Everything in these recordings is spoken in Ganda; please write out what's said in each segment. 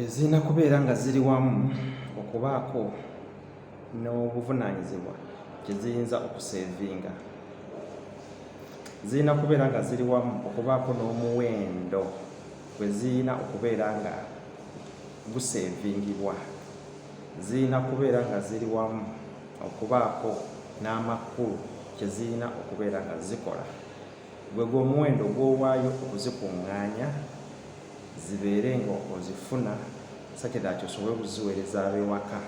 zirina kubeera nga ziri wamu okubaako n'obuvunaanyizibwa kye ziyinza okuseevinga zirina kubeera nga ziri wamu okubaako n'omuwendo gwe zirina okubeera nga guseevingibwa zirina kubeera nga ziri wamu okubaako n'amakulu kye zirina okubeera nga zikola gwe gwe omuwendo gw'owaayo okuzikuŋŋaanya zibeere nga ozifuna such that osobole okuziweereza ab'ewaka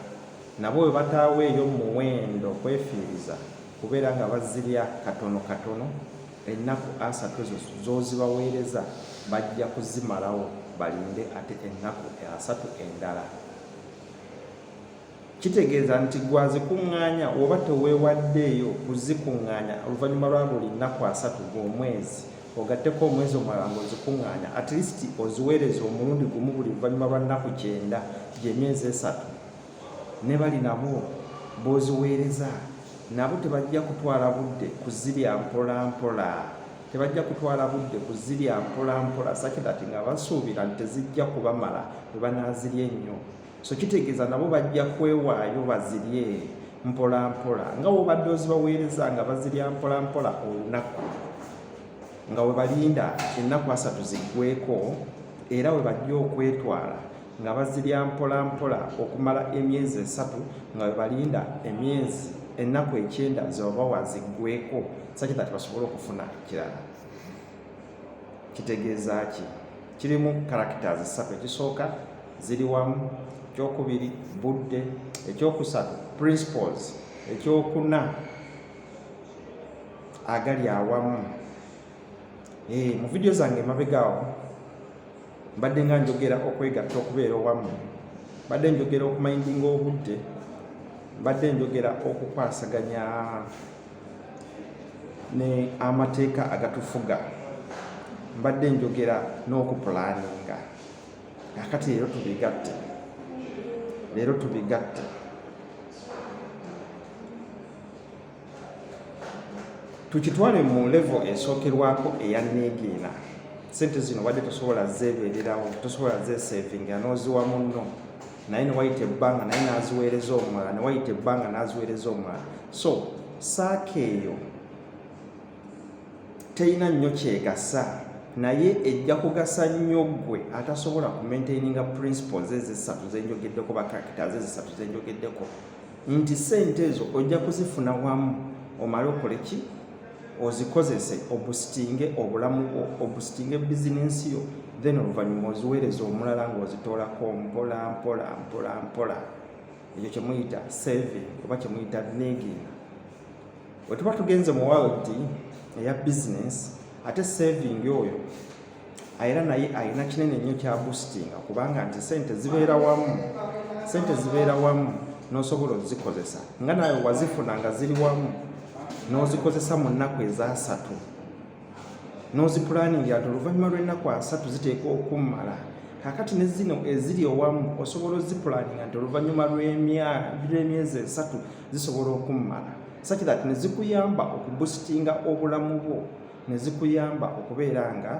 nabo bwe bataaweeyo muwendo kwefiiriza kubeera nga bazirya katono katono ennaku asatu ezo z'ozibaweereza bajja kuzimalawo balinde ate ennaku asatu endala kitegeeza nti gwazikuŋŋaanya oba teweewaddeeyo kuzikuŋŋaanya oluvannyuma lwa buli nnaku asatu gw'omwezi ogatteko omwezi omulala ng'ozikuŋŋaanya at least oziweereza omulundi gumu buli luvannyuma lwa nnaku kyenda gy'emyezi esatu ne bali nabo b'oziweereza nabo tebajja kutwala budde kuzirya mpola mpola tebajja kutwala budde kuzirya mpola mpola sakidati nga basuubira nti tezijja kubamala bwe banaazirya ennyo so kitegeeza nabo bajja kwewaayo bazirye mpolampola nga wobadde ozibaweereza nga bazirya mpolampola olunaku nga webalinda ennaku asatu ziggweko era webajja okwetwala nga bazirya mpolampola okumala emyezi esatu nga webalinda emyezi ennaku ekyenda zebabawa ziggweko sakitati basobole okufuna ekirala kitegeeza ki kirimu characters ssatu ekisooka ziri wamu ekyokubiri budde ekyokusatu principles ekyokuna agali awamu eh, mu vidiyo zange emabegaawo mbadde nga njogera okwegatta okubeera owamu mbadde njogera okumayindinga obudde mbadde njogera okukwasaganya ne amateeka agatufuga mbadde njogera n'okupulaninga akati leero tubigatte leero tubigatte tukitwale mu levo esookerwako eya neegiina sente zino wadde tosobola zeebererawo tosobola zeesevinga n'oziwa munno naye newayita ebbanga naye n'aziweereza omulala newayita ebbanga n'aziweereza omulala so saaka eyo terina nnyo kyegasa naye ejja kugasa nnyo ggwe atasobola kumaintaininga principles ezisatu zenjogeddeko bakarakita ze zisatu zenjogeddeko nti sente ezo ojja kuzifuna wamu omale okole ki ozikozese obusitinge obulamu bwo obusitinge bizinensi yo then oluvannyuma oziweereza omulala ng'ozitoolako mpola mpola mpola mpola ekyo kyemuyita saving oba kyemuyita negin wetuba tugenze mu world eya bizinensi ate saving oyo era naye alina kinene nnyo kya bustinga kubanga nti sente zibeera wamu sente zibeera wamu n'osobola ozikozesa nga nawe wazifuna nga ziri wamu n'ozikozesa mu nnaku ezasatu n'ozipulaningi ati oluvannyuma lw'ennaku asatu ziteekwa okummala kakati ne zino eziri owamu osobola ozipulaninga nti oluvannyuma lw'emyezi esatu zisobola okummala saki that ne zikuyamba okubusitinga obulamu bwo ne zikuyamba okubeera nga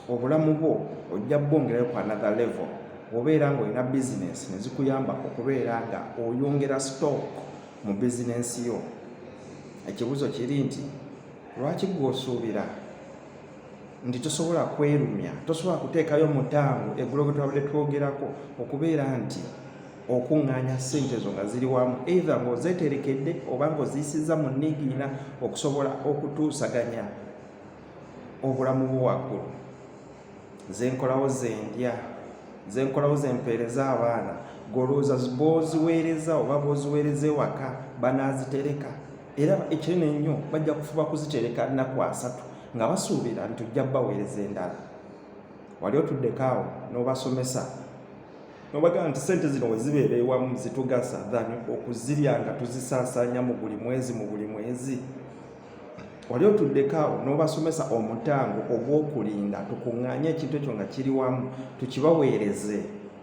obulamu bwo ojja bwongerayo ku another level obeera nga olina bizinesi ne zikuyamba okubeera nga oyongera stock mu bizinesi yo ekibuuzo kiri nti lwaki gwe osuubira nti tosobola kwerumya tosobola kuteekayo mutango egulo bwe twabadde twogerako okubeera nti okuŋŋaanya ssente ezo nga ziri wamu eitha ng'ozeeterekedde oba ng'oziyisizza mu nniigiina okusobola okutuusaganya obulamu bwo waggulu zenkolawo zendya zenkolawo zempeereza abaana golowooza booziweereza oba booziweereza ewaka banaazitereka era ekinene ennyo bajja kufuba kuzitereka nnaku asatu nga basuubira nti ojja baweereza endala wali otuddeko awo n'obasomesa nobagamba nti sente zino wezibeera ewamu zitugasa than okuzirya nga tuzisaasaanya mu buli mwezi mu buli mwezi wali otuddekaawo n'obasomesa omutango ogw'okulinda tukuŋŋaanye ekintu ekyo nga kiri wamu tukibaweereze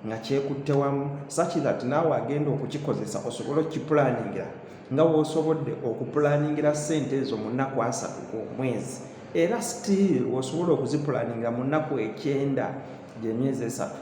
nga kyekutte wamu such that naawe agenda okukikozesa osobole okukipulaningira nga wosobodde okupulaningira sente ezo mu nnaku asatu ku omwezi era still wosobola okuzipulaningira mu nnaku ekyenda gyemyezi esatu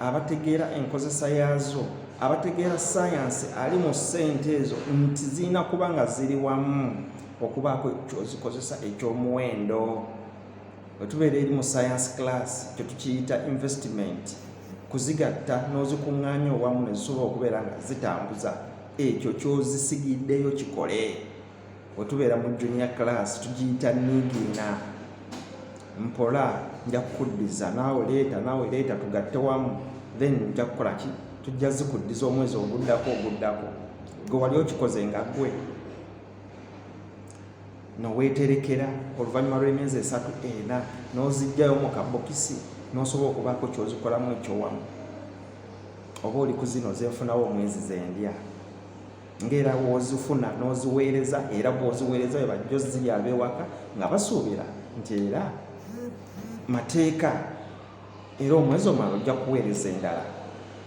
abategeera enkozesa yaazo abategeera sayansi ali mu ssente ezo nti zirina kuba nga ziri wamu okubaako kyozikozesa ekyomuwendo wetubeera eri mu sayansi class kyetukiyita investment kuzigatta n'ozikuŋŋaanya owamu nezisobola okubeera nga zitambuza ekyo kyozisigiddeyo kikole wetubeera mu junior class tugiyita nigiina mpola nja kukuddiza naawe leeta naawe leeta tugatte wamu then nja kukola ki tujja zikuddiza omwezi oguddako oguddako gwe wali okikoze nga gwe noweterekera oluvannyuma lw'emyezi esatu ena n'ozijjayo mu kabokisi n'osobola okubaako kyozikolamu ekyowamu oba oli ku zino zenfunawo omwezi zendya ngera bw'ozifuna n'oziweereza era bw'oziweereza bwe bajja ozirya ab'ewaka nga basuubira nti era mateeka era omwezi omala ojja kuweereza endala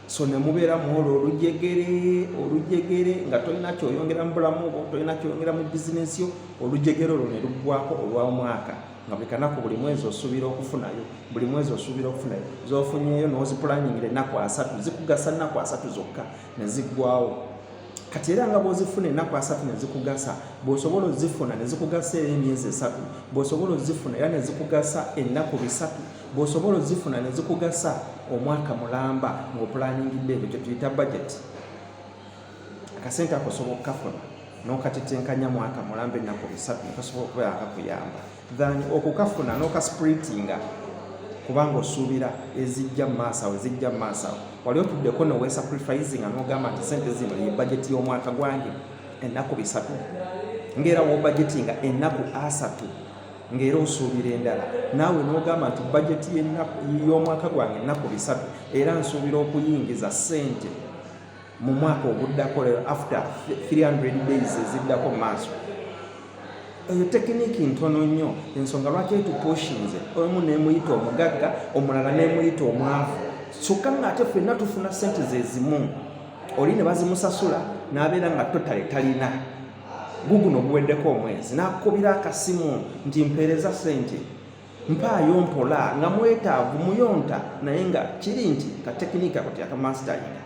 so ne mubeera mu olwo olujegere olujegere nga tolina kyoyongera mu bulamu obwo tolina kyoyongera mu bizinensi yo olujegere olwo ne luggwako olwa omwaka nga buli kanaku buli mwezi osuubira okufunayo buli mwezi osuubira okufunayo zofunyeyo nozipulaningira ennaku asatu zikugasa nnaku asatu zokka ne ziggwawo kati era nga bw'ozifuna ennaku asatu ne zikugasa bw'osobola ozifuna ne zikugasa era emyezi esatu bw'osobola ozifuna era ne zikugasa ennaku bisatu bw'osobola ozifuna ne zikugasa omwaka mulamba ng'opulaningidde ebyo kye tuyita bajeti akasente akosobola okukafuna n'okatetenkanya mwaka mulamba ennaku bisatu ne kasobola okubeera akakuyamba than okukafuna n'okaspritinga kubanga osuubira ezijja mu maaso awo ezijja mu maaso awo wali otuddeko nowesacrifisinga n'ogamba nti sente zino ye bajeti y'omwaka gwange ennaku bisatu ng'era wobajetinga ennaku asatu ng'era osuubira endala naawe n'ogamba nti bajeti y'omwaka gwange ennaku bisatu era nsuubira okuyingiza sente mu mwaka oguddako lero after 300 days eziddako maaso eyo tekiniki ntono nnyo ensonga lwaki etupushinze omu nemuyita omugagga omulala nemuyita omwavu kyokka ngaate fenna tufuna sente zezimu oli ne bazimusasula n'abeera nga totale talina guguno guweddeko omwezi n'akukubira akasimu nti mpeereza sente mpaayo mpola nga mwetaavu muyonta naye nga kiri nti ka tekiniki ako teyakamansitalinga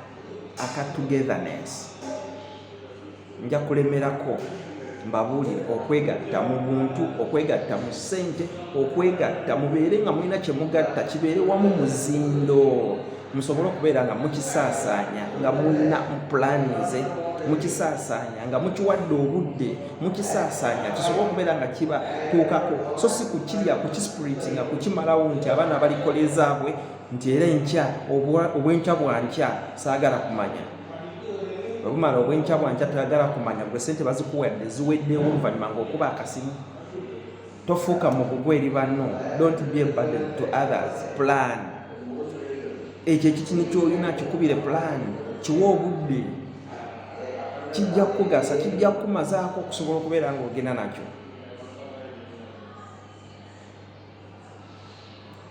aka togetherness nja kulemerako mbabuulire okwegatta mu buntu okwegatta mu ssente okwegatta mubeere nga mulina kye mugatta kibeere wamu muzindo musobole okubeera nga mukisaasaanya nga mulina pulaani ze mukisaasaanya nga mukiwadde obudde mukisaasaanya kisobole okubeera nga kiba tuukako so si kukirya kukispriti nga kukimalawo nti abaana balikola ezaabwe nti era enkya obwenkya bwankya saagala kumanya webumala obwenkya bwankya tagala kumanya gwe sente bazikuwadde ziweddewo oluvannyuma ngaokuba akasimu tofuuka mugugu eri banno dont be a burden to others plan ekyo ekitini kyolina kikubire plan kiwa obudde kijja kukugasa kijja kukumazaako okusobola okubeera ng'ogenda nakyo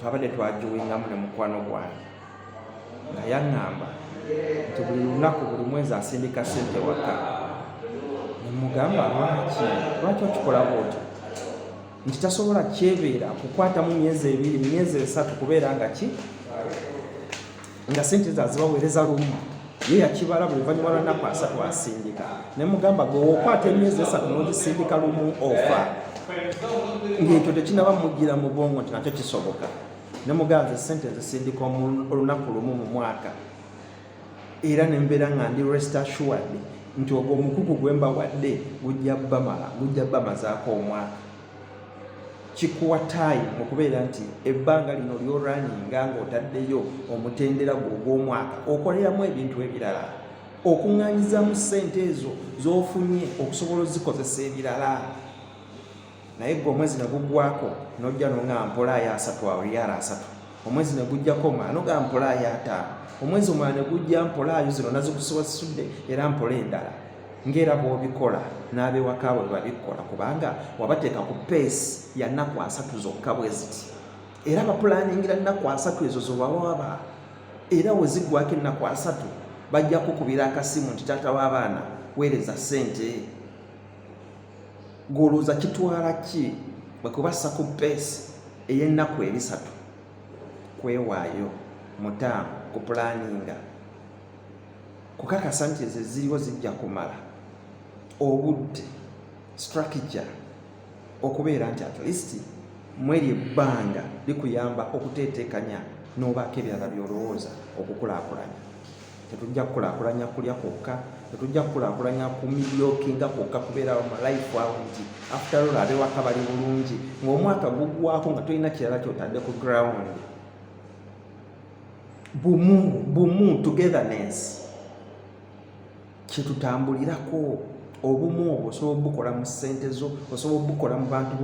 twabadde twajuwingamu ne mukwano gwange nga yaŋŋamba nti buli lunaku buli mwezi asindika sente waka nemugamba lwaki lwaki okikola bwoti nti tasobola kyebeera kukwatamu myezi ebiri myezi esatu kubeera nga ki nga sente ezo azibaweereza lumu ye yakibala buli luvannyuma lwa nnaku asatu asindika ne mugamba gwe okwata emyezi esatu n'ogisindika lumu ofa ng'ekyo tekinaba mujjira mu bwongo nti nakyo kisoboka ne muganza sente ezisindika olunaku lumu mu mwaka era ne mbeera nga ndi rest assured nti ogwo omukugu gwe mbawadde gujja bamala gujja bamazaako omwaka kikuwa time okubeera nti ebbanga lino lyoraninga ng'otaddeyo omutendera gwo ogw'omwaka okoleramu ebintu ebirala okuŋŋanyizamu ssente ezo z'ofunye okusobola ozikozesa ebirala naye gwe omwezi ne gugwako n'ojja nonga mpola ayo asatu awo yara asatu omwezi ne gujjako maanoga mpola ayata omwezi omwana ne gujja mpola ayo zino nazikusiwasudde era mpola endala ng'era bw'obikola n'abewaka bwe babikola kubanga wabateeka ku peesi ya nnaku asatu zokka bwe ziti era bapulaningira nnaku asatu ezo zobawaba era wezigwako ennaku asatu bajja kukubira akasimu nti taata w'abaana weereza ssente Gwolowooza kitwala ki bwe kubassa ku base ey'ennaku ebisatu kwewaayo mutaamu ku pulaninga kukakasa nti ezo eziriwo zijja kumala obudde strategy okubeera nti at least mweri ebbanga likuyamba okuteeteekanya n'obaako ebirala by'olowooza okukulaakulanya tetujja kukulakulanya kulya kwokka tetujja kukulakulanya ku milyokinga kwokka kubeera mu life awo nti after all abewaka bali bulungi ng'omwaka gugwako nga tolina kirala kyotadde ku ground bumu bumu togetherness kyetutambulirako obumu obwo osobola obukola mu ssente zo osobola obukola mu bantu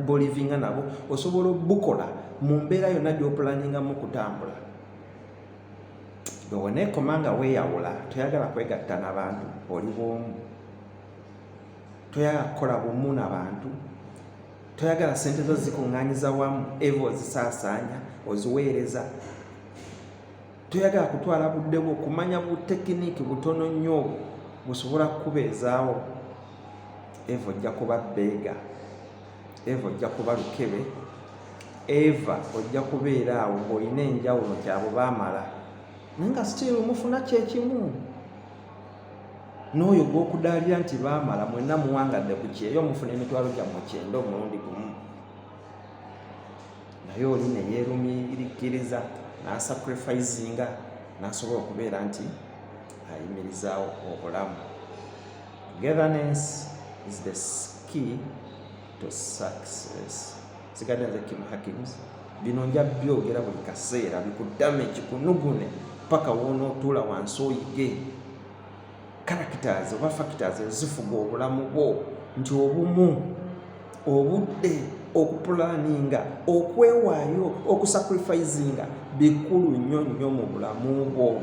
bolivinga nabo osobola obukola mu mbeera yonna gyopulaningamu okutambula bweweneekoma nga weeyawula toyagala kwegatta na bantu oli bwomu toyagala kukola bumu na bantu toyagala sente zo zikuŋŋanyiza wamu eva ozisaasaanya oziweereza toyagala kutwala budde bwo kumanya butekiniiki butono nnyo obwo busobola kukubeezaawo eva ojja kuba bbeega eva ojja kuba lukebe eva ojja kubeera awo ng'olina enjawulo nti abo baamala naye nga still mufuna kyekimu n'oyo gw'okudaalira nti baamala mwenna muwangadde ku kyeyo mufuna emitwalo gyammwe kyenda omulundi gumu naye oli neyeerumirikkiriza n'asacrifisinga n'asobola okubeera nti ayimirizaawo obulamu Governance is the key to success. Sigadde nze Kim Hakims, bino nja byogera buli kaseera bikudame kikunugune paka wonootuula wansi oyige characters oba factors ezifuga obulamu bwo nti obumu obudde okupulaninga okwewaayo okusacrifisinga bikulu nnyo nnyo mu bulamu bwo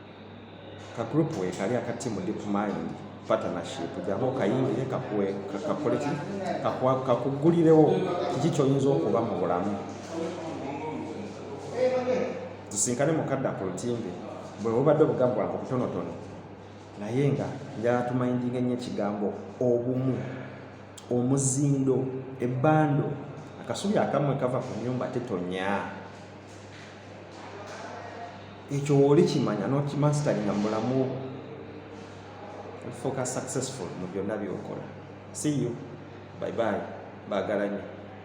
ka group we kali aka team deep mind partnership jamu kayingire kakuwe kakole ki kakwa kakugulirewo kiki kyoyinza okuba mu bulamu tusinkane mukadda ku lutimbe bwe bubadde obugambo bwange obutonotono naye nga njala tumayindinga ennyo ekigambo obumu omuzindo ebbando akasubi akamwe kava ku nyumba tetonya ekyo wooli kimanya nokimasitali nga mubulamu ofuuka successful mu byonna byokola see you bye bye baagala nyo